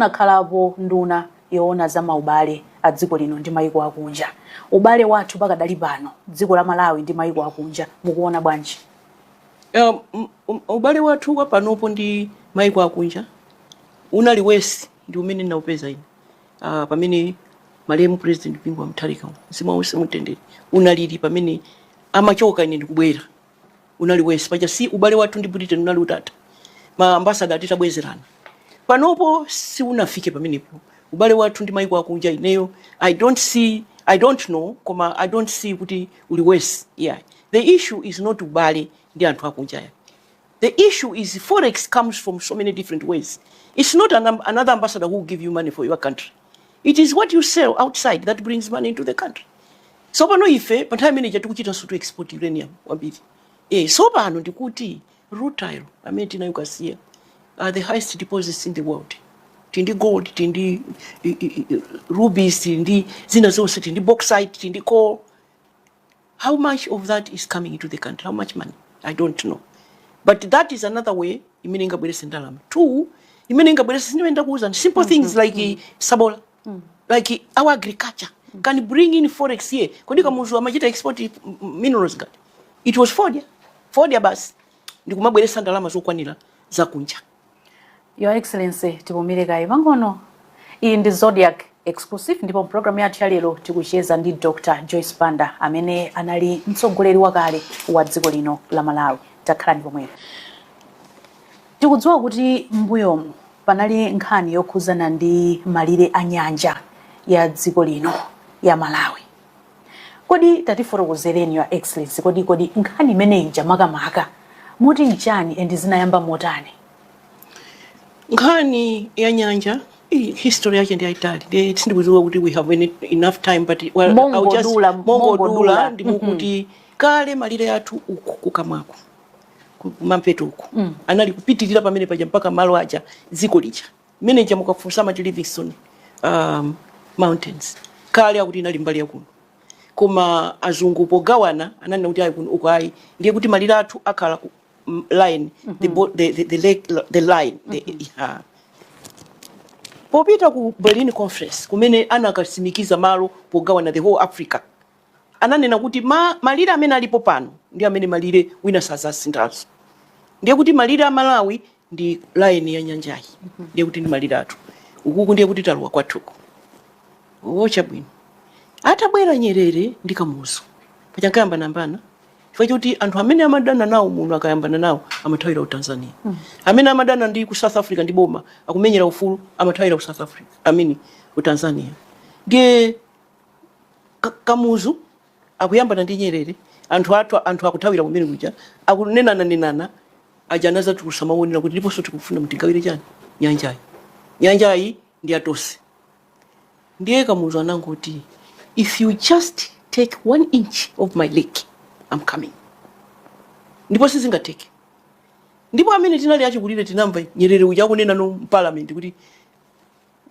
Munakhalapo nduna yoona za maubale a dziko lino ndi maiko akunja. Ubale wathu pakadali pano dziko la Malawi ndi maiko akunja mukuona bwanji? Um, um, um, ubale wathu wa panopo ndi maiko akunja unali worse ndi umene ndinaupeza ine uh, pamene malemu president Bingu wa Mutharika mzimu wawo uwuse mumtendere unalili pamene amachoka ine ndikubwera unali worse paja si ubale wathu ndi britain unali utatha ma ambasada titabwezerana panopo siunafike pamenepo ubale wathu ndi maiko akunja ineyo i don't see i don't know koma i don't see kuti uli worse yeah the issue is not ubale ndi anthu akunja ya the issue is forex comes from so many different ways it's not an, another ambassador who will give you money for your country it is what you sell outside that brings money into the country so pano ife pa nthawi imene ija tikuchitanso timu export uranium kwambiri eh, so pano ndikuti rutile amene tinaye ku Kasiya are the highest deposits in the world tili ndi gold tili ndi rubies tili ndi zina zonse tili ndi bauxite tili ndi coal How much of that is coming into the country? How much money? I don't know. But that is another way imene ingabwerese ndalama. Two, imene ingabwerese ndi imene ndakuwuzani. Simple mm -hmm. things like mm -hmm. sabola. Mm -hmm. Like our agriculture mm -hmm. can bring in forex here. Kodi mm. kamuzu amachita export minerals ngati. It was fodya. Fodya basi. Ndikumabweresa ndalama zokwanira za kunja. Your Excellency, tipumire kaye pang'ono. Iyi ndi Zodiak Exclusive ndipo programu yathu ya lero tikucheza ndi Dr. Joyce Banda amene anali mtsogoleri wakale wa dziko lino la Malawi. Takhalani pomwepo. Tikudziwa kuti m'mbuyomu panali nkhani yokhuzana ndi malire a nyanja ya dziko lino ya Malawi. Kodi tatifotokozereni your excellency kodi kodi nkhani imene ija makamaka mutu nchani and zinayamba motani? Nkhani ya nyanja iyi history yake ndi yayitali ndiye sindikudziwa kuti we have any, enough time but well, I'll just- Mongodula, mongodula. mongodula ndi mwakuti kale malire athu uku ku kumwamba uko ku- kumampoto uku anali kupitirira pamene paja mpaka malo aja dziko lija mmene ija mukafunsa amati Livingstone um, mountains kale akuti inali mbali yakuno koma azungu pogawana ananena kuti ayi kuno uko ayi ndiye kuti malire athu akhala ku mm, line the, bo- the, the, the, lake, the line the, yeah. popita ku berlin conference kumene anakasimikiza malo pogawana the whole africa ananena kuti ma, malire amene alipo pano ndi amene malire wina asazasinthenso ndiye kuti malire a malawi ndi line ya nyanjayi ndiye kuti ndimaliratu ukuku ndiye kuti talowa kwathuku chabwino atabwera nyerere ndi kamuzu paja ankayambanayambana chifukwa choti anthu amene amadana nawo muno akayambana nawo amathawira ku tanzania amene amadana ndi ku south africa ndi boma akumenyera ufulu amathawira ku south africa I mean ku tanzania ndiye Ka- kamuzu akuyambana ndi nyerere anthu athu anthu akuthawira kumene kuja akunenana nenana aja anazatulusa mawu onena kuti ndiponso tikufuna mutigawire chani nyanjayi nyanjayi ndi yatonse ndiye kamuzu anangoti if you just take one inch of my lake I'm coming ndipo sizingateke ndipo amene tinali achikulire tinamva nyerere uja akunena mparliament kuti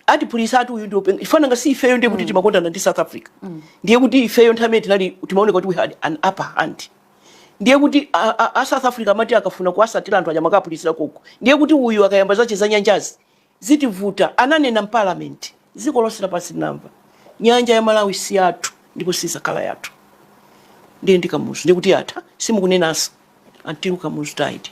atiphulisa ati uyu ndiopenga chifukwa nanga si ifeyo ndiye kuti mm. timakondana ndi south africa mm. ndiye kuti ifeyo nthawi imene ija tinali timaoneka kuti we had an upper hand ndiye kuti a south africa amati akafuna kuwasatira anthu aja amakaphulitsira konko ndiye kuti uyu akayamba zace za nyanjazi zitivuta ananena mparliament dziko lonse lapansi linamva nyanja ya malawi si yathu ndipo sizakhala yathu ndiye ndi kamuzu ndiye kuti atha simukunenanso until kamuzu died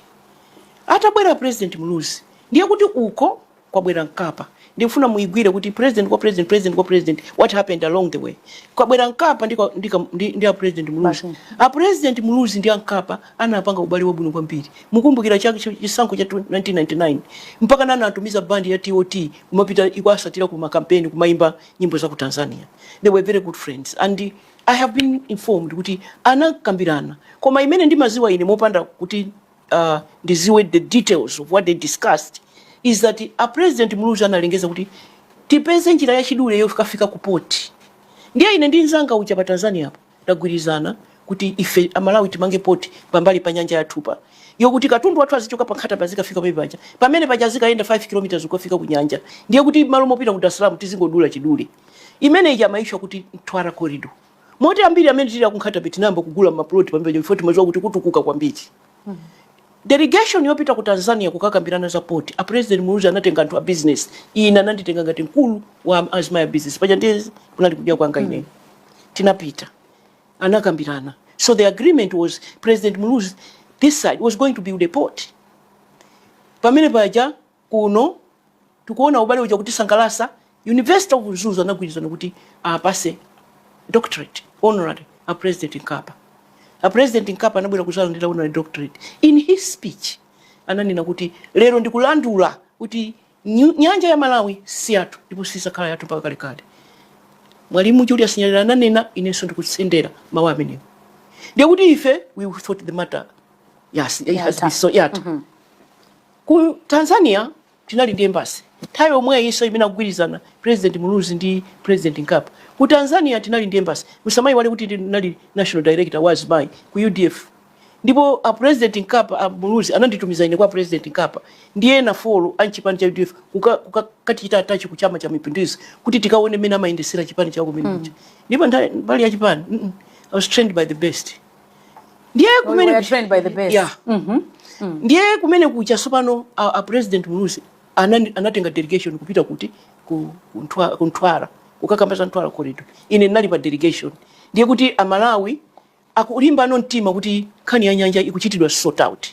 atabwera president muluzi ndiye kuti uko kwabwera mkapa ndikufuna muigwire kuti president kwa president president kwa president what happened along the way kwabwera mkapa ndi, kwa- ndi, ka- ndi, ndi a president muluzi Basi. a president muluzi ndi a mkapa anapanga ubale wabwino kwambiri mukumbukira cha chi- chisankho cha 1999 mpaka anatumiza bandi ya tot kumapita ikuasatira ku makampeni kumaimba nyimbo za ku tanzania they were very good friends and i have been informed kuti anakambirana koma imene ndimaziwa ine mopanda kuti uh, ndiziwe the details of what they discussed is that a president muluzi analengeza kuti tipeze njira yachidule yokafika ku poti ndiye ine ndi nzanga uja pa tanzania apo tagwirizana kuti ife amalawi timange poti pambali pa nyanja yathupa yokuti katundu wathu azichoka pa nkhata bay azikafika pamene paja pamene paja azikayenda 5 km kukafika ku nyanja ndiye kuti mmalo mopita ku dar es salaam tizingodula chidule imene ija imatchedwa kuti mtwara corridor moti ambiri amene tili aku Nkhata Bay tinayamba kugula mapuloti pamene paja chifukwa timadziwa kuti kutukuka kwambiri. Delegation yopita ku Tanzania kukakambirana za port, a President Muluzi anatenga anthu a business, ine ananditenga ngati mkulu wa azimayi a business, paja ndiye kunali kudya kwanga ineyo. Tinapita, anakambirana. So the agreement was President Muluzi, this side was going to build a port. Pamene paja kuno tikuona ubale uja kutisangalasa university of mzuzu anagwirizana kuti apase doctorate honorary a president mkapa a president mkapa anabwera kuzalandira honorary doctorate in his speech ananena kuti lero ndikulandula kuti nyanja ya malawi si yathu ndipo sisakhala yathu mpaka kalekale mwalimu julius nyerere ananena inenso ndikutsindika mawu amenewo ndiye kuti ife we thought the matter yes, it has been so yathu mm -hmm. Ku Tanzania tinali ndi embassy nthawi yomweyiso imene akugwirizana President Muluzi ndi President Mkapa. Ku Tanzania tinali ndi embassy. Musamayiwale kuti ine ndinali National Director wa azimayi ku udf ndipo a President Mkapa, a Muluzi ananditumiza ine kwa President Mkapa ndi ena four a m'chipani cha udf kuka kukakatichita attach ku Chama cha Mapinduzi kuti tikaone mmene amayendetsera chipani chawo kumene kuja. Ndipo nthawi mbali ya chipani mm I was trained by the best. ndiye kumene kuja- trained by the best. Yeah. ndiye kumene kuja sopano a, a president muluzi anani- anatenga delegation kupita kuti ku, ku, Mtwa- ku Mtwara kukakamba za Mtwara corridor ine ndinali pa delegation ndiye kuti amalawi akulimbano mtima kuti nkhani ya nyanja ikuchitidwa sort out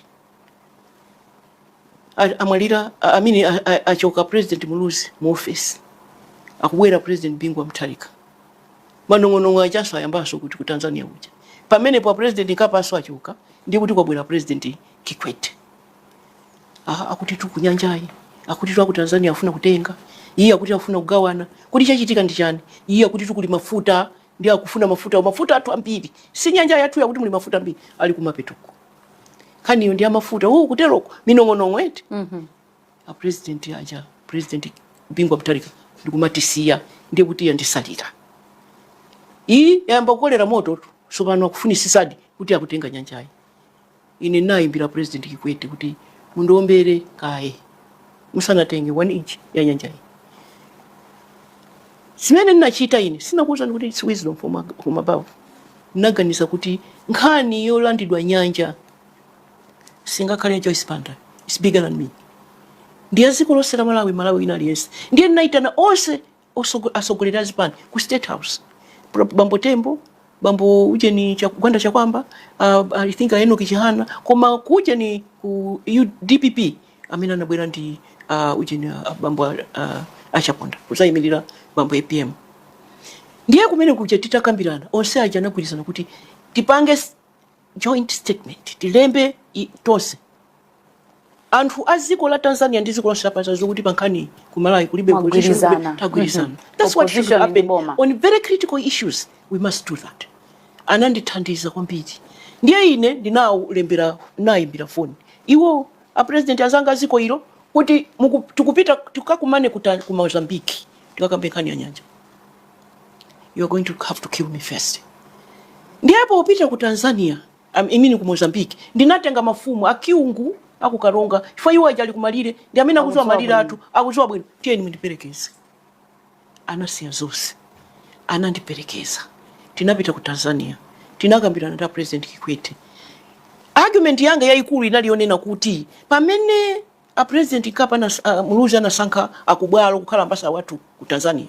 amwalira amene achoka president Muluzi mu office akubwera president Bingu wa Mutharika manong'onong'o ajaso ayambaso kuti ku Tanzania kuja pamenepa president Mkapanso achoka ndi kuti kwabwera president Kikwete akuti tu kunyanjayi akuti tu aku Tanzania afuna kutenga iye akuti afuna kugawana kuti chachitika ndi chani iye akuti tu kuli mafuta ndi akufuna mafuta mafuta athu ambiri si nyanja yathuyi akuti muli mafuta ambiri ali kumapetuko nkhaniyo ndi yamafuta uwu kuteroko minong'onong'o eti mhm. a president aja president bingu wa mutharika ndikumatisiya ndiye kuti yanditsalira iyi yayamba kukolera moto tu sopano akufunisisadi kuti akutenga nyanjayi ine nayimbira president kikwete kuti mundombere kaye musanatenge one inch ya nyanjayi Zimene ndinachita ine, sinakuuzani kuti it's wisdom from, a- from above. Ndinaganiza kuti nkhani yolandidwa nyanja singakhale ya Joyce Banda. It's bigger than me. Ndi ya dziko lonse la Malawi, Mmalawi wina aliyense. Ndiye ndinaitana onse osogo- atsogoleri a zipani ku State House. Pro- Bambo Tembo, bambo ujeni cha Gwanda Chakwamba, uh, I think Enoch Chihana, koma kujeni ku U- DPP amene anabwera ndi a ujeni a- a- bambo a- a- a chaponda kuzayimirira bambo apm ndiye kumene kuja titakambirana onse aja anagwirizana kuti tipange s- joint statement tilembe i- tonse anthu a dziko la tanzania ndi dziko lonse lapansi lidziwe kuti pa nkhani ku malawi kulibe opposition, kulibe- Mwagwirizana. tagwirizana Mhm. that's what should Opposition ndi happen boma. on very critical issues we must do that anandithandiza kwambiri ndiye ine ndinalembera nayimbira foni iwo A president azanga aziko ilo kuti muku, tikupita tikakumane kuja ku Mozambique tikakambe nkhani ya nyanja. You are going to have to kill me first. Ndiye popita ku Tanzania, um, I mean ku Mozambique, ndinatenga mafumu a Kyungu akukaronga chifukwa iwo aja ali kumalire ndi amene akuziwa malire athu akuziwa bwino tiyeni mundiperekeze. anasiya zonse anandiperekeza tinapita ku Tanzania tinakambirana ndi president Kikwete argument yanga yayikulu inali yonena kuti pamene a president Mkapa na uh, Muluzi anasankha a Kubwalo kukhala ambassador wathu ku Tanzania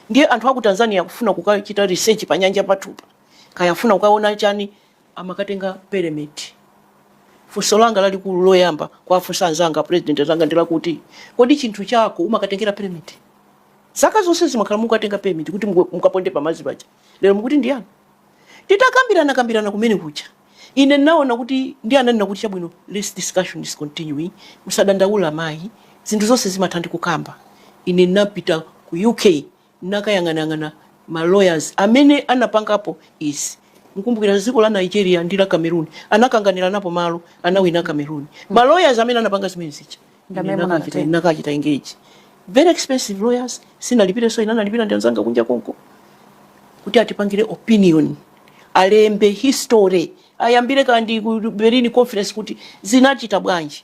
ndiye anthu aku Tanzania akufuna kukachita research pa nyanja pathupa kaya afuna kukaona chani amakatenga permit. Funso langa lalikulu loyamba kuwafunsa anzanga president anzanga ndi lakuti kodi chinthu chako umakatengera permit? Zaka zonsezi makhala mukatenga permit kuti muka- mukaponde pamadzi paja, lero mukuti ndi yani? Titakambirana kambirana kumene kuja ine ndinaona kuti ndi ananena kuti chabwino, let's discussion is continuing, musadandaula mayi, zinthu zonse zimatha ndi kukamba. Ine ndinapita ku UK nakayang'anayang'ana ma lawyers amene anapangapo izi mukumbukira dziko la Nigeria ndi la Cameroon anakanganiranapo malo anawina Cameroon ma lawyers amene anapanga zimene zija ine ndi amene nakachita munachita. ine nakachita engage very expensive lawyers sindinalipirenso ine analipira ndi anzanga kunja konko kuti atipangire opinion alembe history ayambire kaya ndi ku Berlin conference kuti zinachita bwanji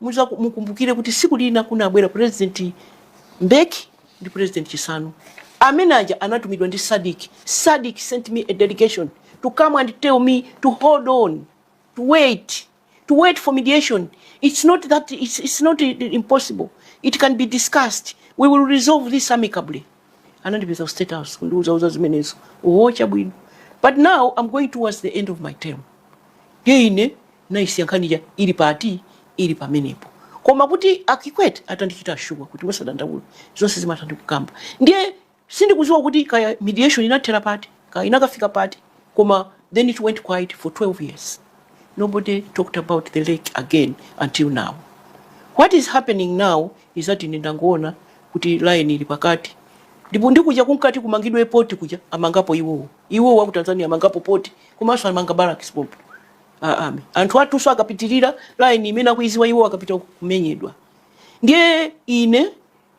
Muzaku mukumbukire kuti siku lina kunabwera president Mbeki ndi president Chisanu. Amene aja anatumidwa ndi Sadic. Sadic sent me a delegation to come and tell me to hold on, to wait, to wait for mediation. It's not that it's, it's not impossible. It can be discussed. We will resolve this amicably. anandipeza ku state house kundiuzauza zimenezo oho chabwino but now i'm going towards the end of my term ndiye ine naisiya nkhaniya ili pati ili pamenepo koma kuti a Kikwete atandichita assure kuti musadandaule zonse zimatha ndi kukamba ndiye sindikudziwa kuti kaya mediation inathera pati kaya inakafika pati koma then it went quiet for 12 years nobody talked about the lake again until now what is happening now is that ine ndangoona kuti line ili pakati ndipo ndi kuja kunkati kumangidwe port kuja amangapo iwowo iwowo aku Tanzania amangapo port komanso amanga barracks pompo a army anthu athunso akapitirira line imene akuidziwa iwo akapita uko kumenyedwa ndiye ine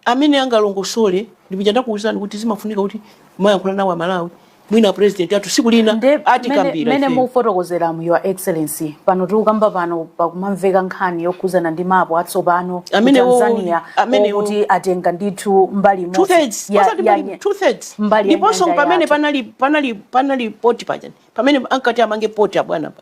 amene angalongosole ndi kuja ndakuwuzani kuti zimafunika kuti kumayankhula nawo Amalawi mwina president athu tsiku lina nde mene atikambira mene ife mukufotokozera mu your excellency pano tikukamba pano pakumamveka nkhani yokhudzana ndi mapu atsopano ku Amenewo- Tanzania amenewo- kuti atenga ndithu mbali two imodzi thirds ya- osati ya mbali nye- two thirds mbali ya ndiponso nyanja pamene yathu. panali panali panali poti paja pamene ankati amange poti abwana pa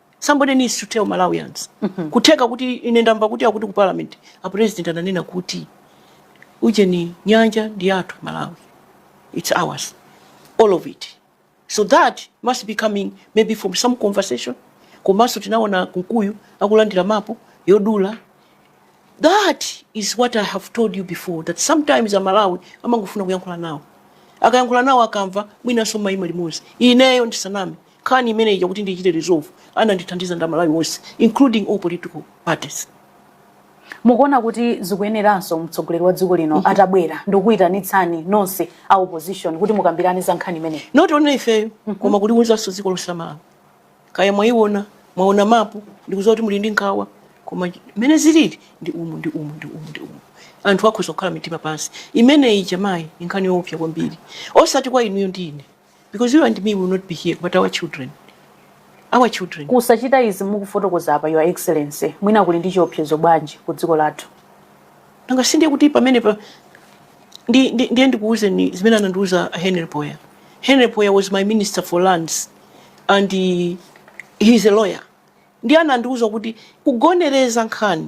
Somebody needs to tell Malawians. Kutheka kuti ine ndamva kuti akuti ku parliament a president ananena kuti ujeni nyanja ndi yathu Malawi. It's ours. All of it. So that must be coming maybe from some conversation. Komanso tinaona Kunkuyu akulandira mapu yodula that is what i have told you before that sometimes Amalawi amangofuna kuyankhula nawo akayankhula nawo akamva mwinanso mayima limodzi ineyo ndisaname Nkhani imeneyi ija kuti ndiichite resolve anandithandiza ndi aMalawi onse including all political parties. Mukuona kuti zikuyeneranso mtsogoleri wa dziko lino atabwera ndikukuitanitsani nonse a opposition kuti mukambirane za nkhani imeneyi? Not only ifeyo koma kuliuzanso dziko lonse la Malawi. Kaya mwaiona, mwaona mapu, ndikudziwa kuti muli ndi nkhawa koma mmene zilili ndi umu ndi umu ndi umu ndi umu. Anthu akhoza kukhala mitima pansi. Imeneyi ija mayi ndi nkhani yoopsa kwambiri. Osati kwa inuyo ndi ine. Because you and me will not be here, but our children. Our children. Kusachita izi mukufotokoza apa your excellency mwina kuli ndi chiopsezo bwanji ku dziko lathu. Nanga si ndiye kuti pamene pa ndi ndi ndiye ndikuwuzeni zimene anandiuza Henry Phoya. Henry Phoya was my minister for lands and he, he is a lawyer. Ndiye anandiuza kuti kugonereza nkhani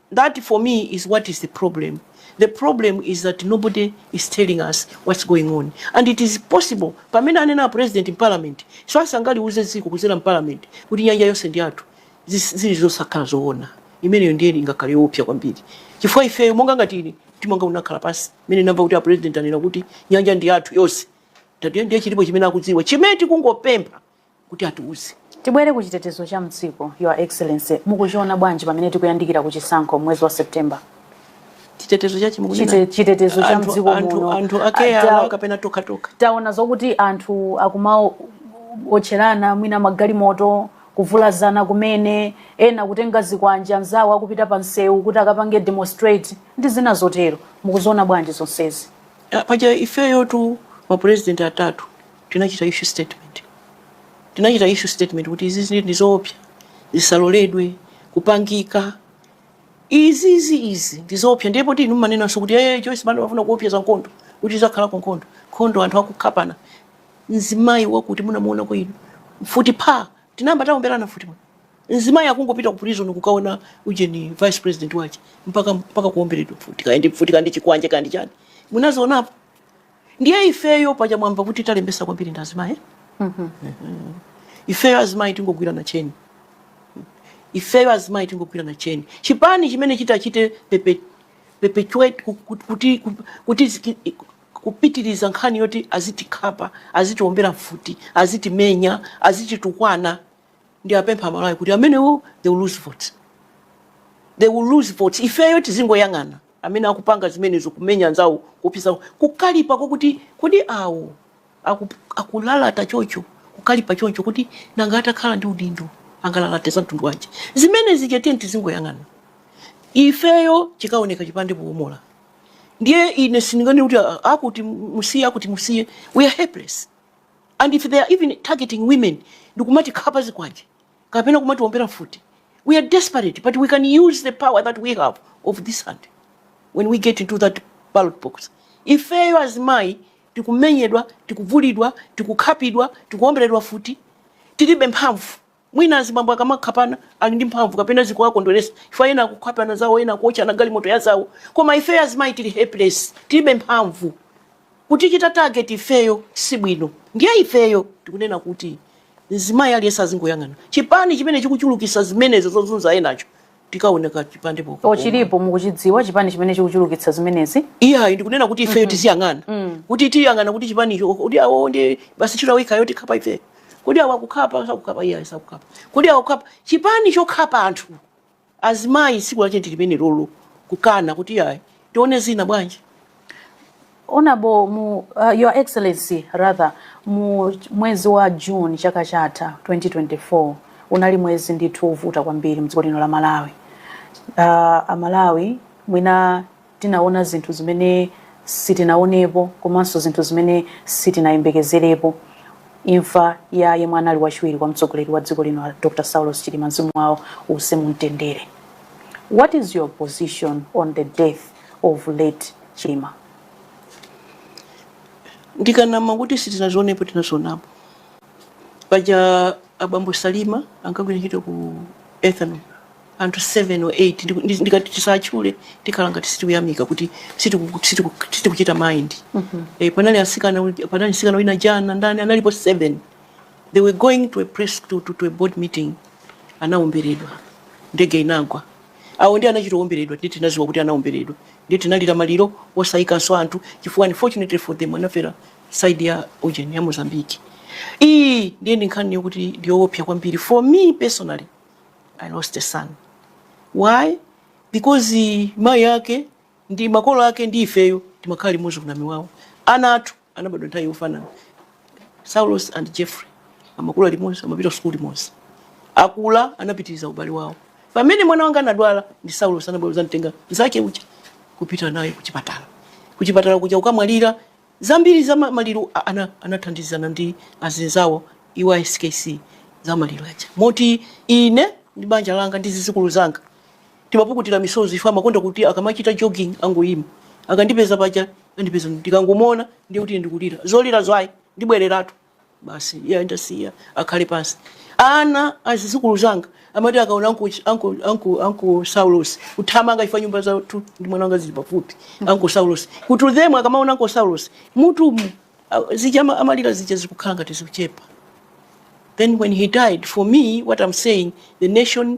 That for me is what is the problem, the problem is that nobody is telling us what's going on and it is possible pamene anena apresident m'parliament chifukwa sangaliuze dziko kudzera m'parliament kuti nyanja yonse ndi yathu zis- zili zosakhala zoona imeneyo ndiye ingakhale yoopsa kwambiri chifukwa ifeyo monga ngati ine mtima wanga unakhala pansi imene ndamva kuti apresident anena kuti nyanja ndi yathu yonse tatiyo ndiye chilipo chimene akudziwa chimene tikungopempha kuti atiuze. Tibwere ku chitetezo cha mdziko, Your Excellency, mukuchiona bwanji pamene tikuyandikira ku chisankho m'mwezi wa September? chitetezo chachi mukunena Chite- chitetezo cha anthu- mdziko anthu- muno. anthu akeya Ata- alawo kapena tokha tokha taona zokuti anthu akumaotcherana mwina magalimoto kuvulazana kumene ena kutenga zikwanje anzawo akupita pa msewu kuti akapange demonstrate ndi zina zotero mukuziona bwanji zonsezi Ah, paja ifeyo tu mapurezidenti atatu Tinachita issue statement, tinachita issue statement kuti izizi ndizoopsa zisaloledwe kupangika izizi izi ndizoopsa ndiye poti inu mumanenanso kuti eh, Joyce Banda wafuna kuopseza nkhondo kuti izakhalako nkhondo nkhondo anthu akukhapana mzimayi wakuti munamuonako inu mfuti pha tinayamba taomberana mfuti muno mzimayi akungopita ku prison kukaona ujeni vice president wache mpaka mpaka kuomberedwa mfuti kaende mfuti kandi chikwanje kandi chani munazionapo ndiye ifeyo paja mwamva kuti talembesa kwambiri ndi azimayi eh? Mhm. Mhm. ifeyo azimayi tingogwirana tcheni ifeyo azimayi tingogwirana tcheni chipani chimene chitachite pepe perpetuate ku- ku- kuti ku- kuti ziki- kupitiriza nkhani yoti azitikhapa azitiombera mfuti azitimenya azititukwana ndiwapempha amalawi kuti amenewo they will lose votes they will lose votes ifeyo tizingoyang'ana amene akupanga zimenezo kumenya anzawo kupisa kukalipa kokuti kodi awo aku- akulalata choncho kukalipa choncho kuti nanga atakhala ndi udindo angalalate za mtundu wanji zimene zija tiyeni tizingoyang'ana ifeyo chiwonetsa chipande powomola ndiye ine sindinganene kuti "Ah, akuti musiye akuti musiye we are helpless and if they are even targeting women ndikumatikhapa zikwanje kapena kumatiombera mfuti we are desperate but we can use the power that we have of this hand when we get into that ballot box ifeyo azimayi tikumenyedwa tikuvulidwa tikukhapidwa tikuomberedwa mfuti tilibe mphamvu Mwina azibambo akamakhapana ali ndi mphamvu kapena zikuwakondweresa chifukwa ena akukhapana zawo ena akuotchana galimoto yazawo koma ifeyo azimayi tili helpless tilibe mphamvu kutichita target ifeyo sibwino ndiye ifeyo tikunena kuti mzimayi aliyense azingoyang'ana chipani chimene chikuchulukitsa zimenezo zozunza enazo tikaone kachipande poti chilipo mukuchidziwa chipani chimene chikuchulukitsa zimenezi iyayi ndikunena kuti ifeyo tiziyang'ana kuti tiyang'ana kuti chipanicho kuti awo ndi basi ntchito yawo ikhayo tikhapa ifeyo kodi awo akukhapa sakukhapa iyayi sakukhapa kuti awo kukhapa chipani chokhapa anthu azimayi tsiku lache ndilimenelolo kukana kuti iyayi tione zina bwanji Honorable mu, uh, Your Excellency rather mu mwezi wa June chaka chatha 2024 unali mwezi ndithu wovuta kwambiri mdziko lino la Malawi. Uh, Amalawi mwina tinaona zinthu zimene sitinaonepo komanso zinthu zimene sitinayembekezerepo imfa ya yemwe anali wachiwiri kwa mtsogoleri wa dziko lino Dr. Saulos Chilima mzimu wawo uuse mumtendere. What is your position on the death of late Chilima. ndikanama kuti sitinazionepo tinazionapo paja abambo a Chilima ankagwira ntchito ku ethanol anthu 7 or 8 Ndiku- ndi- ndikati tisatchule tikhala ngati sitikuyamika kuti sitiku- sitiku- sitikuchita mind Eh, panali asikana uli- panali msikana wina ujeni ndani analipo 7 they were going to a press to, to, to a board meeting anawomberedwa ndege inagwa Awo ndiye anachita owomberedwa, ndiye tinadziwa kuti anawomberedwa, ndiye tinalira maliro osaikanso anthu chifukwa unfortunately for them anafera side ya ujeni ya Mozambique. Iyi ndiye ndi nkhani yokuti ndi yowopsa kwambiri for me personally I lost a son. Why? Because mayi ake ndi makolo ake ndi ifeyo timakhala limodzi ku Namiwawa ana athu Anabadwa nthawi yofanana. Saulos and Jeffrey amakula limodzi, amapita kusukulu limodzi. Akula anapitiriza ubale wawo. Pamene mwana wanga anadwala ndi Saulos anabwera kudzamtenga mnzake uja kupita naye kuchipatala. Kuchipatala kuja atamwalira zambiri za maliro ana, anathandizana ndi azinzawo iwo a SKC za maliro aja. Moti ine ndi banja langa ndi zidzukulu zanga timapukutira misozi ife amakonda kuti akamachita jogging angoyima akandipeza paja andipeza ndikangomuona ndiye kuti ndikulira zolira ayi ndibwereratu basi iye andasiya akhale pansi ana azizukulu anga amati akaona anko anko anko anko saulos kuthamanga ife nyumba zathu ndi mwana wanga zili pafupi anko saulos kuti them akamaona anko saulos mutu mu a- zija ama- amalira zija zikukhala ngati zikuchepa Then when he died, for me, what I'm saying, the nation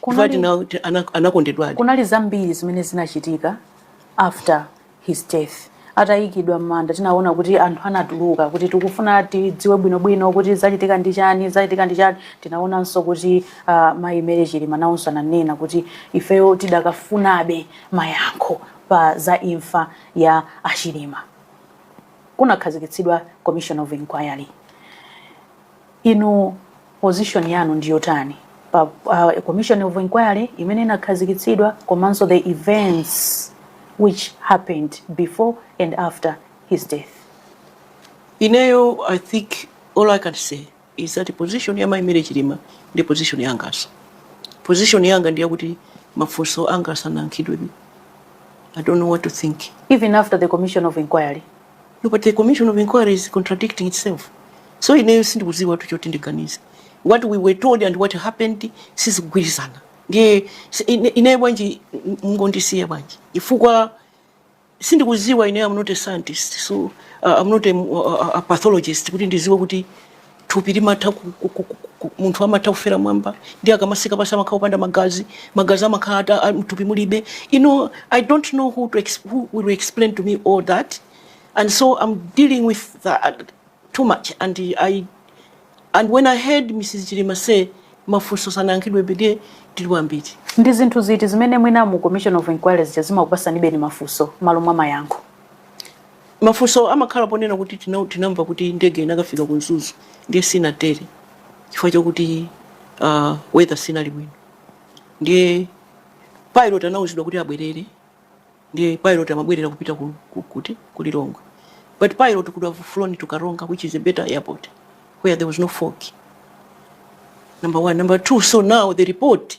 Kunali- Chifukwa tina- ti- ana- anakondedwadi kunali zambiri zimene zinachitika after his death atayikidwa m'manda tinaona kuti anthu anatuluka kuti tikufuna tidziwe bwinobwino kuti zachitika ndi chani zachitika ndi chani tinaonanso kuti uh, mayi Mary Chilima nawonso ananena kuti ifeyo tidakafunabe mayankho pa za imfa ya achilima kunakhazikitsidwa commission of inquiry Inu position yanu ndi yotani pa uh, commission of inquiry imene inakhazikitsidwa komanso the events which happened before and after his death? Ineyo, I think all I can say is that position ya Mai Mary Chilima ndi position yanganso. Position yanga ndi yakuti mafunso anga sanayankhidwe. I don't know what to think. Even after the commission of inquiry? but the commission of inquiry is contradicting itself so ineyo sindikudziwatu choti ndiganize what we were told and what happened sizikugwirizana ndiye si- ine- ineyo bwanji m- mungondisiya bwanji chifukwa sindikudziwa ineyo am not a scientist so uh, am not a, a, a pathologist kuti ndidziwe kuti thupi limatha ku, ku, ku, ku, ku, munthu amatha kufera mmwamba ndiye akamatsika pansi amakhala kupanda magazi magazi amakhala ata- a- mthupi mulibe you know i don't know who, to ex, who will explain to me all that and so i'm dealing with that too much and i and when i heard mrs chilima say mafunso sanayankhidwebe nde tili wambiri ndi zinthu ziti zimene mwina mu commission of inquiry zikumakupatsanibe mafunso malo mwa mayankho Mafunso amakhala ponena kuti tina, tinamva kuti ndege inakafika ku Mzuzu ndiye sinatere chifukwa chokuti uh, weather siinali bwino ndiye pilot anauzidwa kuti abwerere ndiye pilot amabwerera kupita ku, ku, kuti ku Lilongwe but pilot could have flown to Karonga which is a better airport where there was no fog number one number two so now the report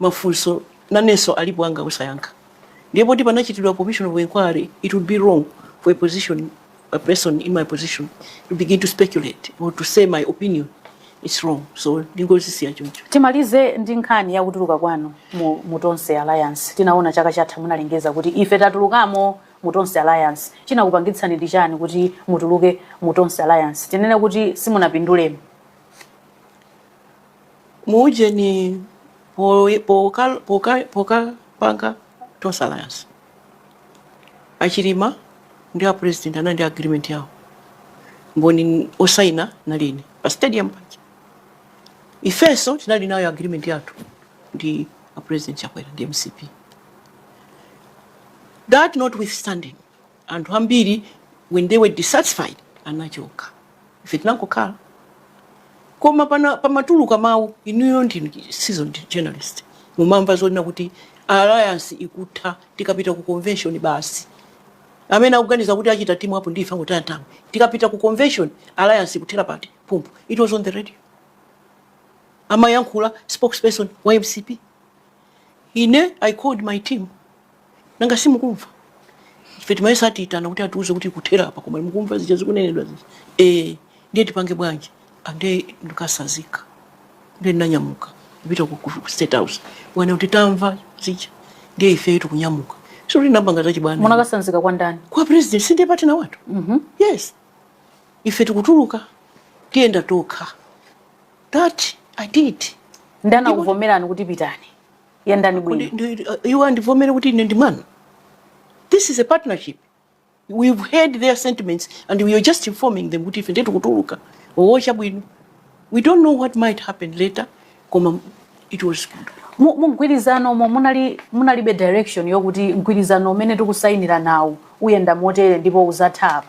Mafunso nanenso alipo anga osayankha ndiye poti panachitidwa commission of enquiry it would be wrong for a position a person in my position to begin to speculate or to say my opinion it's wrong so ndingozisiya choncho. Timalize ndi nkhani ya kutuluka kwanu mu, mu Tonse Alliance. Tinaona chaka chatha munalengeza kuti ife tatulukamo mu Tonse Alliance. Chinakupangitsani ndi chani kuti mutuluke mu Tonse Alliance? Tinene kuti simunapindulemo? muujeni pokapanga poka, poka, poka panga tonse alliance achilima ndi a president anali ndi agreement yawo mboni osaina nali ine pa stadium paja ifenso tinali nayo agreement yathu ndi a president chakwera ndi mcp that notwithstanding anthu ambiri when they were dissatisfied anachoka ife tinangokhala koma pamatuluka mawu inuyo ndinu seasoned journalist mumamva zonena kuti alliance ikutha tikapita ku convention basi amene akuganiza kuti achita timu apo ndife angotaya time tikapita ku convention alliance ikuthera pati pompo it was on the radio amayankhula spokesperson wa mcp ine i called my team nanga simukumva ife timayesa atiyitana kuti atiuze kuti kuthera apa koma mukumva zija zikunenedwa zija eh ndiye tipange bwanji ande ndikatsanzika ndiye ndinanyamuka kupita ku ku state house kuti tamva zija ndiye ife tikunyamuka si kuti ndapanga zachibwana munakatsanzika kwa ndani kwa president si ndiye partner wathu yes ife tikutuluka tiyenda tokha that i did ndiye anakuvomerani kuti pitani yendani bwino iwo andivomere kuti ine ndi mwana this is a partnership we've heard their sentiments and we are just informing them kuti ife ndetu tikutuluka oh chabwino we don't know what might happen later koma it was good mumgwirizano umo munali munalibe direction yokuti mgwirizano umene tikusayinira nawo uyenda motere ndipo uzatha apa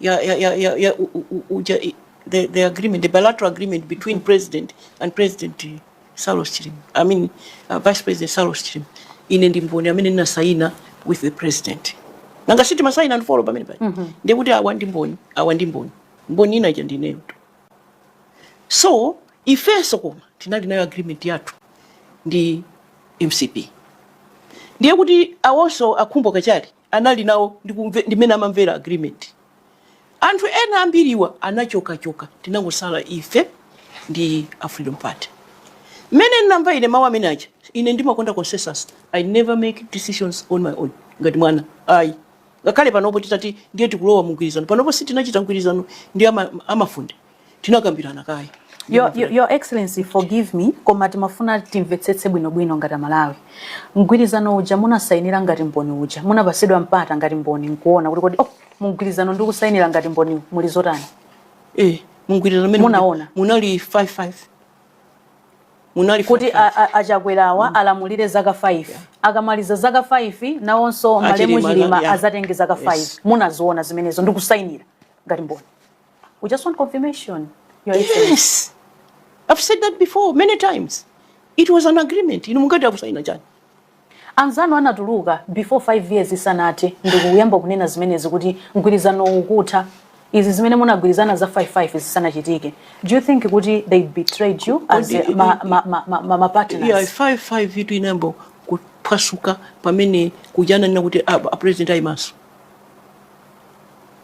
ya, ya, ya, ya, ya, u, u, u, ja, i- the, the agreement, the bilateral agreement between president and president eh, Saulos Chilima. I mean, uh, vice president Saulos Chilima. Ine ndi mboni amene ndinasaina with the president. Nanga si timasaina and follow pamene pali. Ndiye kuti awa ndi mboni, awa ndi mboni. Mboni ina ija ndineyo tu. So, ifenso koma tinali nayo agreement yathu ndi MCP. Ndiye kuti awonso a Khumbo Kachali anali nawo ndi kumve, ndi mmene amamvera agreement. Anthu ena ambiriwa anachoka choka tinangosala ife ndi a Freedom Party. Mmene ndinamva ine mawu amene aja ine ndimakonda consensus. I never make decisions on my own ngati mwana ayi. Ngakhale panopo titati ndiye tikulowa mumgwirizano panopo sitinachita mgwirizano ndi ama, a Mafunde. tinakambirana kaye Your, your, your Excellency, forgive me, koma timafuna timvetsetse bwinobwino ngati aMalawi. Mgwirizano uja munasainira ngati mboni uja, munapasidwa mpata ngati mboni nkuona kuti kodi oh, mumgwirizano ndikusainira ngati mboni muli zotani? Eh, mgwirizano mmene munaona munali 55 munali kuti a Chakwerawa mm. alamulire zaka 5 yeah. akamaliza zaka 5 nawonso malemu Chilima azatenge zaka 5 yes. munaziona zimenezo ndikusainira ngati mboni We just want confirmation. Your yes. I've said that before many times. It was an agreement. Inu mungati akusaina chani? Anzanu anatuluka before 5 years isanathe ndikuyamba kunena zimenezi kuti mgwirizano ukutha. Izi zimene munagwirizana za 55 zisanachitike. Do you think kuti they betrayed you as a, ma, ma, ma, ma, ma, ma partners? Yeah, 55 itu inayamba kuphwasuka pamene kujananira kuti a, ah, a president ayimanso.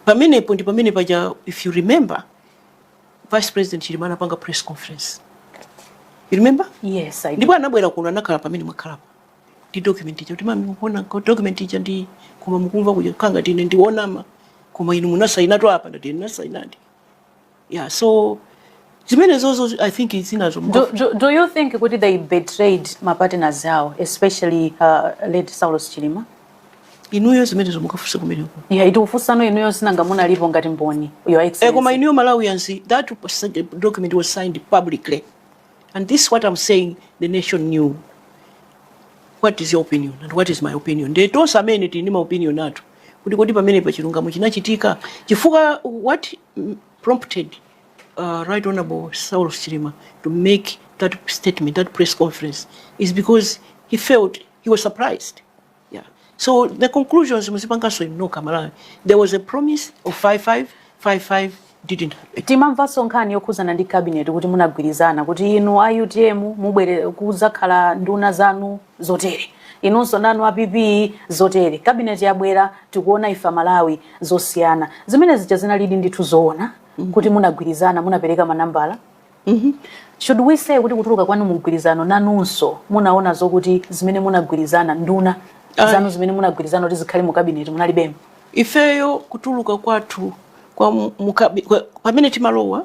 Pamenepo ndi pamene paja if you remember Vice President Chilima anapanga press conference. You remember? Yes, I do. Ndipo anabwera kuno anakhala pamene mwakhalapo. Ndi document ija kuti mayi mukuiona document ija ndi koma mukumva kuja ukhala ngati ine ndi wonama koma inu munasainatu apa ndati ine ndinasainadi. yeah so zimenezozo i think zinazo Do, do, do you think kuti they betrayed mapartners awo especially uh, late saulos chilima inuyo zimenezo mukafunse kumeneko yeah, tikufunsani inuyo sinanga munalipo ngati mboni Eh, koma your excellency inuyo malawians that was- document was signed publicly and this is what i'm saying the nation knew what is your opinion and what is my opinion nde tonse amene tili ndi maopinion athu kuti kodi pamenepa chilungamo chinachitika chifukwa what prompted uh, Right Honorable Saulos Chilima to make that statement, that press conference, is because he felt he was surprised. Yeah. So the conclusions, muzipanganso inu nokha Amalawi, there was a promise of 5-5, 5-5 didn't happen. Timamvanso nkhani yokhuzana ndi cabinet kuti munagwirizana kuti inu a UTM mubwere kuzakhala nduna zanu zotere inunso nanu a pp zotere cabinet yabwera tikuona ife amalawi zosiyana zimene zija zinalidi ndithu zoona mm -hmm. kuti munagwirizana munapereka manambala mm -hmm. should we say kuti kutuluka kwanu mumgwirizano nanunso munaona zokuti zimene munagwirizana nduna zanu zimene munagwirizana kuti zikhale mu cabinet munalibemo ifeyo kutuluka kwathu pamene timalowa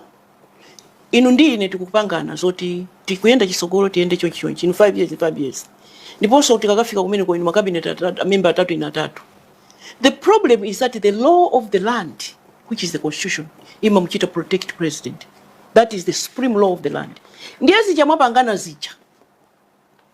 Inu ndi ine tikupangana zoti tikuyenda chitsogolo tiyende chonchi chonchi inu 5 years 5 years ndiponso tikakafika kumeneko inu makabineti amemba atatu ine atatu the problem is that the law of the land which is the constitution imamuchita protect president that is the supreme law of the land ndiye zija mwapangana zija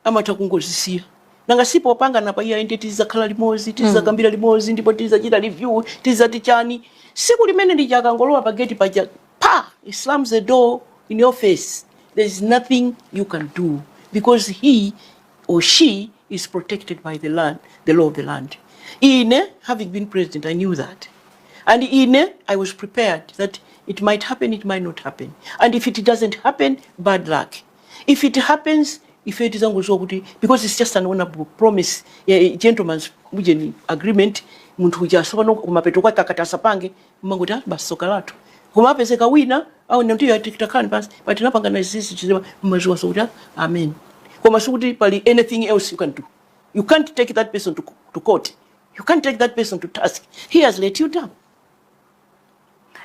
amatha kungozisiya nanga si popangana pa iyayi ndiye tizakhala limodzi tizakambira limodzi ndipo tizachita review tizati chani siku limene lija akangolowa pa gate paja pa he slams the door in your face there is nothing you can do because he or she is protected by the law of the land ine having been president i knew that and ine i was prepared that it might happen it might not happen and if it doesn't happen bad luck If it happens ife tizangoziwa kuti because it's just an honorable promise ya a gentleman's ujeni agreement munthu uja sopano kumapeto kwake akati asapange mmangoti ah basi soka lathu koma kumapezeka wina aona kuti ya tikitakhani pansi but tinapangana izizi chizima mumaziwanso kuti ah, amen koma sikuti pali anything else you can do you can't take that person to, to court you can't take that person to task he has let you down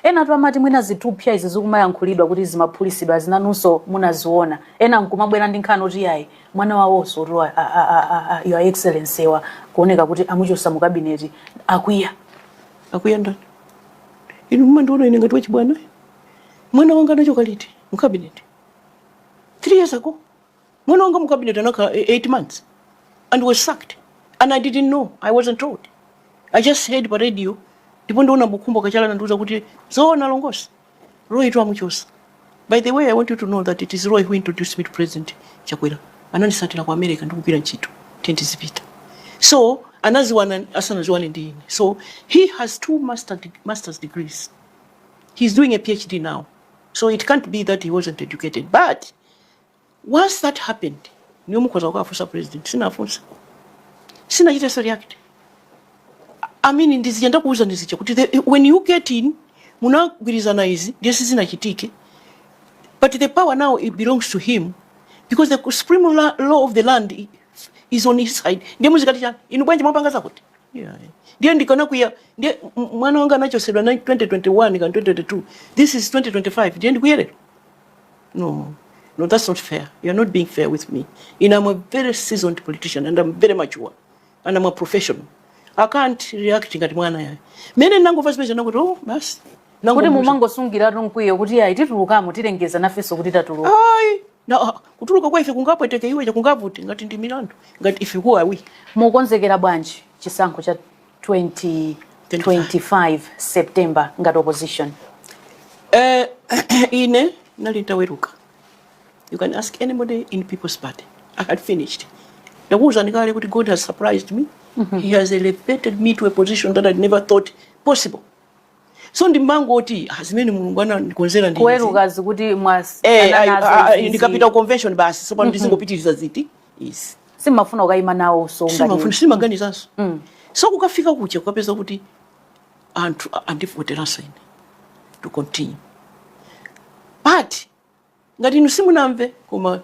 Enatu amati mwina zithupsya izi zikumayankhulidwa kuti zimaphulitsidwa zinanunso munaziona, ena nkumabwera ndi nkhani oti yayi mwana wawonso tu a, a, a, a, a your excellency akuoneka kuti amuchosa mu kabineti akwiya. Akwiya ndani? Inu mumandiona ine ngati wachibwana? Mwana wanga anachoka liti mu kabineti? 3 years ago. mwana wanga mukabineti anakhala 8 months and was sacked and i didn't know i wasn't told i just heard pa radio ndipo ndi Honourable Khumbo Kachali anandiuza kuti zoona ndithu Roy amuchosa by the way i want you to know that it is roy who introduced me to president chakwera anandisatira ku america ndikugwira ntchito then ndizipita so anaziwana asanaziwane ndi ine so he has two masters degrees he's doing a phd now so it can't be that he wasn't educated but Once that happened, ndiye mukhoza kukafunsa president. Sinafunse. Sinachitenso react. I mean ndi zija ndakuwuzani zija kuti the, when you get in munagwirizana izi ndiye sizinachitike. But the power now it belongs to him because the supreme la- law of the land i- is on his side. Ndiye muzikati chani? Inu bwanji mwapanga zakuti? Yeah. Ndiye ndikana kuya ndiye m- mwana wanga anachosedwa na 2021 kaya 2022. This is 2025. Ndiye ndikwiye lero. No, no, that's not fair. You're not being fair with me. You know, I'm a very seasoned politician and I'm very mature and I'm a professional. I can't react ngati mwana yayi. Mmene ndinangomva zimenezi ndinati oh basi. Kuti mwangosungiratu mkwiyo kuti ayi titulukamo tilengeza nafenso kuti tatuluka. Ayi. Na ah, kutuluka kwa ife kungapweteke iwe kaya kungavute ngati ndi milandu ngati ife kuwa awi. Mukonzekera bwanji chisankho cha 2025 September ngati opposition? Eh, ine ndinali nditaweruka. You can ask anybody in People's Party. I had finished. Ndakuwuzani kale kuti God has surprised me. Mm -hmm. He has elevated me to a position that I never thought possible. So ndimangoti ah, zimene Mulungu anandikonzera ndi. Kuweruka mukuti mwasiya. Eh, ndikapita convention basi. So pano mm -hmm. ndizingopitiriza ziti. yes simafuna ukaima nawo so ngati simafuna simaganizanso Mm. so kukafika kuja kukapeza kuti anthu a- andivoteranso ine to continue but ngati inu simunamve koma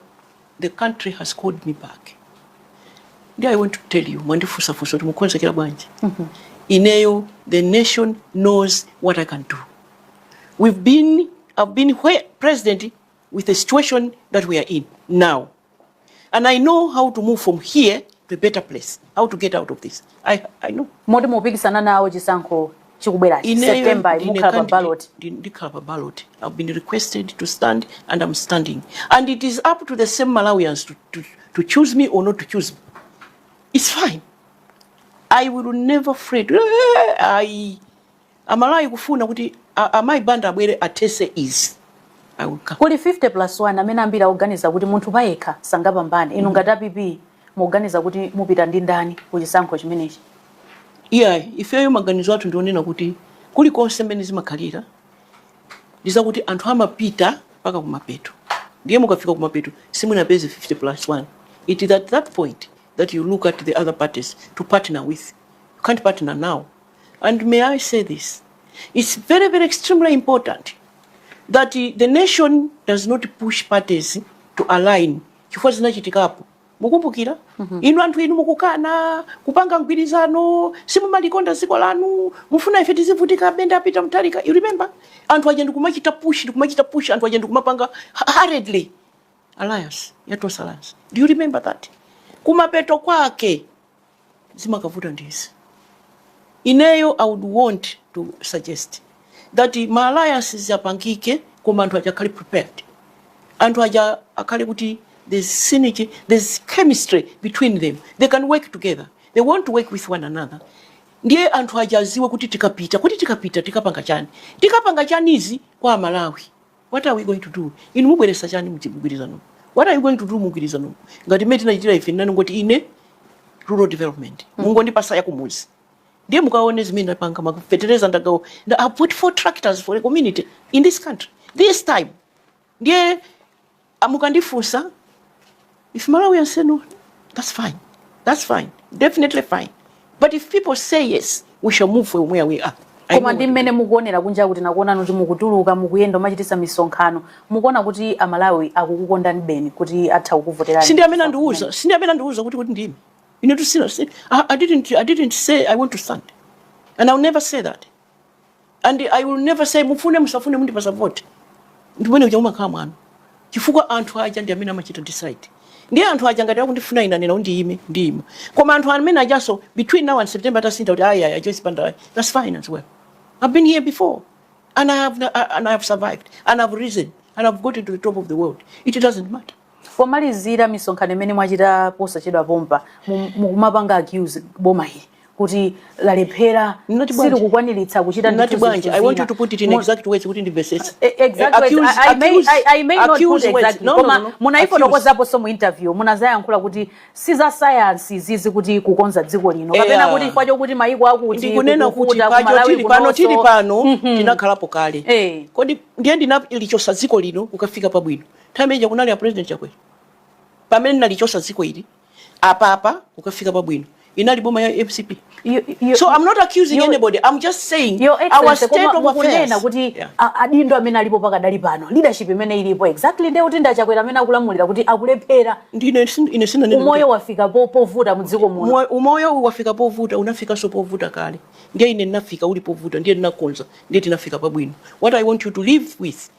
the country has called me back ndi i want to tell you mwandifunsafunsa kuti mukukonzekera bwanji ineyo the nation knows what i can do we've been i've been where president with the situation that we are in now and i know how to move from here to a better place how to get out of this i, I know moti mupikisana nawo chisankho chikubwerachi Ineyo september ndine mukhala pa candidate- ballot ndi- ndikhala pa ballot i've been requested to stand and i'm standing and it is up to the same malawians to, to, to choose me or not to choose me it's fine i will never fret i Amalawi akufuna kuti amayi Banda abwere athese izi. I will come. Kuli 50 plus 1 amene ambiri akuganiza kuti munthu payekha sangapambane. Inu ngati a PP mukuganiza kuti mupita ndi ndani ku chisankho chimenechi? Iyayi, ifeyo maganizo athu ndi onena kuti kulikonse mmene zimakhalira ndi zakuti anthu amapita mpaka kumapeto ndiye mukafika kumapeto simunapeze 50 plus 1. It is at that point that you look at the other parties to partner with. You can't partner now. And may I say this? It's very, very extremely important that the nation does not push parties to align chifukwa zinachitikapo mukumbukira mm -hmm. inu anthu inu mukukana kupanga mgwirizano simumalikonda dziko lanu mufuna ife tizivutika a Bendera pita mtalika you remember anthu aja ndikumachita push ndikumachita push anthu aja ndikumapanga hurriedly alliance yatosa alliance do you remember that kumapeto kwake zimakavuta ndi izi ineyo i would want to suggest that ma alliances apangike koma anthu aja akhale prepared anthu aja akhale kuti there's synergy there's chemistry between them they can work together they want to work with one another ndiye anthu aja aziwe kuti tikapita kodi tikapita tikapanga chani tikapanga chani izi kwa amalawi What are we going to do? Inu mubweresa chani mumgwirizano? What are you going to do mumgwirizano? Ngati mmene tinachitira ife nanenetu ine rural development. Mm. Mungondipatsa ya kumuzi. Ndiye mukaone zimene ndapanga mafetereza ndagawa. Nda I put four tractors for a community in this country. This time. Ndiye a Mukandifunsa if Malawians say no, that's fine, that's fine, definitely fine. But if people say yes, we shall move from where we are. I koma know ndi what- mmene mukuonera kunja kuno nakuonani kuti mukutuluka mukuyenda mumachitisa misonkhano mukuona kuti amalawi akukukondani beni kuti atha kukuvoterani si ndi amene andiuza si ndi amene andiuza kuti kuti ndiime ine tusina si- I, I, didn't, i didn't say i want to stand and ill never say that and i will never say mufune musafune mundipasa vote umene uja umakhala mwano chifukwa anthu aja ndi amene amachita decide ndi anthu aja ngati akundifuna ine anena kuti ndiime ndiyima koma anthu amene ajanso between now and september atasintha kuti ayi ayi ajoyce banda ayi that's fine as well i've been here before and i have, and I have survived and i've risen and i've got to the top of the world it doesn't matter Pomalizira misonkhano imene mwachita posachedwa pompa mukumapanga accuse boma ili kuti lalephera silikukwaniritsa kuchita ndi kuti bwanji i want you to put it in exact words kuti ndimvesese eh, eh, exact eh, words i may i may not put exact no, koma no, no, munaifotokozaponso mu interview munazayankhula kuti si za science izizi kuti kukonza dziko lino kapena kutikwacho kuti maiko akuti ndikunena kutikwacho tili pano tili pano mhm. tinakhalapo kale kodi ndine ndinalichosa dziko lino kukafika pabwino Time ija kunali a President Chakwera pamene nalichosa dziko ili apapa kukafika pabwino inali boma ya MCP. You, you, so I'm not accusing you, anybody. I'm just saying your, our state of affairs. kuti yeah. adindo amene alipo pakadali pano leadership imene ilipo exactly ndiye kuti ndi a Chakwera amene akulamulira kuti akulephera. Ndine ine sina nini. Umoyo wafika povuta mdziko muno. Umoyo wafika povuta unafikanso povuta kale. Ndiye ine ndinafika uli povuta ndiye ninakonza ndiye tinafika pabwino. What I want you to leave with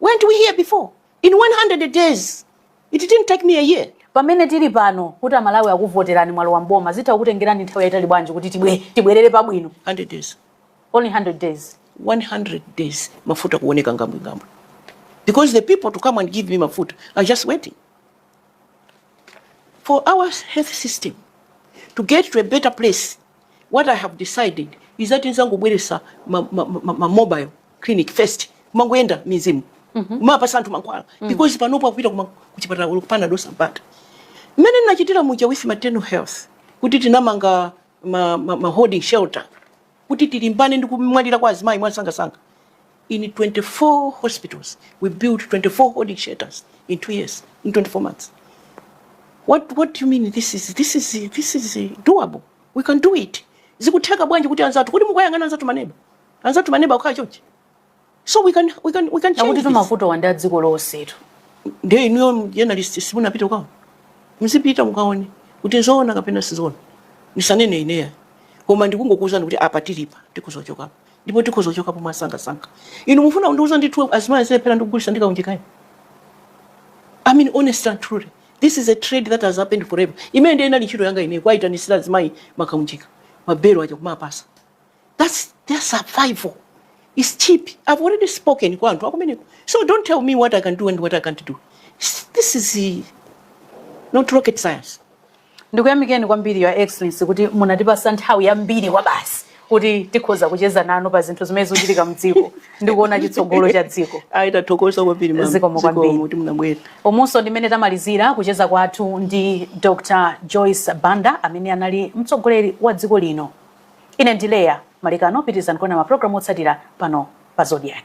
Weren't we here before? In 100 days, it didn't take me a year. Pamene tili pano kuti amalawi akuvoterani mwalowa mboma zitha kukutengerani nthawi yaitali bwanji kuti tibwe tibwerere pabwino 100 days. Only 100 days. 100 days mafuta kuoneka ngambwingambwi because the people to come and give me mafuta are just waiting. for our health system to get to a better place what i have decided is that nzangobweresa ma, ma, ma, ma mobile clinic first kumangoyenda m'mizimu mm -hmm. kumapasa anthu mankhwala mm. because panopo akupita kuchipatala kukapanda dose mpaka mmene ndinachitira muja with maternal health kuti tinamanga ma, ma, ma holding shelter kuti tilimbane ndi kumwalira kwa azimayi mwansangasanga in 24 hospitals we built 24 holding shelters in two years in 24 months what, what do you mean this is, this is, this is doable we can do it zikutheka bwanji kuti anzathu kodi mukuyang'ana anzathu maneba anzathu maneba akhala chonchi so we can, we can, we can change this. akuti mavutowa ndi a dziko lonsetu ndiye inuyo journalist simunapite uko muzipita mukaone kuti nzoona kapena sizoona ndisanene ineyo koma ndikungokuwuzani kuti apa tilipa tikuzochokapo ndipo tikuzochokapo mwasangasanga inu mufuna kundiwuza inu kuti azimai azilephera kugulisa kaunjikayo i mean honest and truly this is a trade that has happened forever imene ndiye inali ntchito yanga ineyo kuwaitanisira azimai makaunjika mabelo aja kumapasa That's their survival. It's cheap. I've already spoken kwa anthu akumeneko. So don't tell me what I can do and what I can't do. This is eh, not rocket science. ndikuyamikeni kwambiri your excellency kuti munatipasa nthawi yambiri kwabasi kuti tikhoza kucheza nanu pa zinthu zimene zikuchitika mdziko ndi kuona chitsogolo cha dziko ayi tathokoza kwambiri mama. Zikomo kwambiri. Zikomo kuti munabwera umonso ndi mmene tamalizira kucheza kwathu ndi dr joyce banda amene anali mtsogoleri wa dziko lino Ine ndi Leah Malekano, pitilizani kuona ma program otsatira pano pa Zodiak.